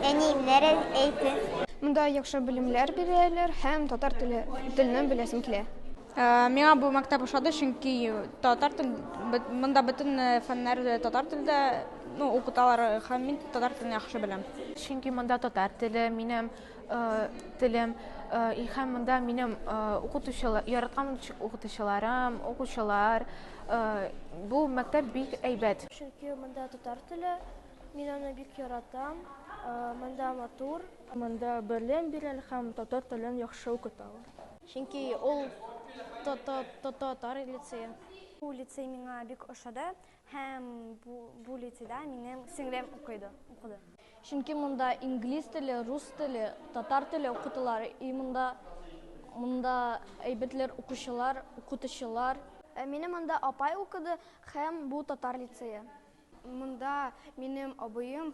Әни, нәре әйтер? Монда яхшы белемнәр бирәләр һәм татар теле телне беләсем килә. Э, миңа бу мәктәп ошады, чөнки татар тел монда бөтен э, фәннәр э, татар телдә ну, укыталар һәм мин татар телен яхшы беләм. Чөнки монда татар теле минем телем һәм монда минем укытучылар яраткан укытучыларым укучылар бу мәктәп бик әйбәт чөнки монда татар теле мин аны бик яратам монда матур монда белем бирә һәм татар телен яхшы укыта чөнки ул татар лицее бу лицей миңа бик ошады Һәм бу, бу лицейда минем сеңлем укыйды, укыды. Чөнки монда инглиз теле, рус теле, татар теле укытылар. И монда монда әйбәтләр укучылар, укытучылар. Ә минем монда апай укыды һәм бу татар лицее. Монда минем абыем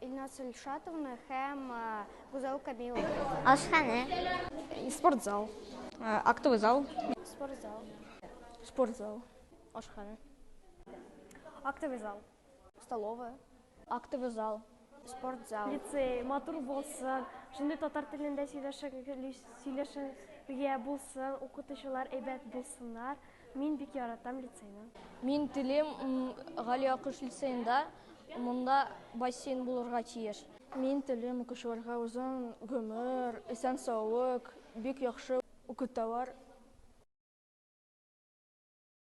Илназ Ильшатовны һәм Гүзәл Камиловны. Ашханә. Спортзал. Актовый зал. Спортзал. Спортзал. Ашханә. Актовый зал. Столовая. Актовый зал. Спортзал. Лицей матур булсын. Шундый татар телендә сөйләшергә булсын, укытучылар әйбәт булсыннар. Мин бик яратам лицейны. Мин телим Гали Акыш лицеенда, монда бассейн булырга тиеш. Мин телим укучыларга озын гомер, исән саулык, бик яхшы укыталар.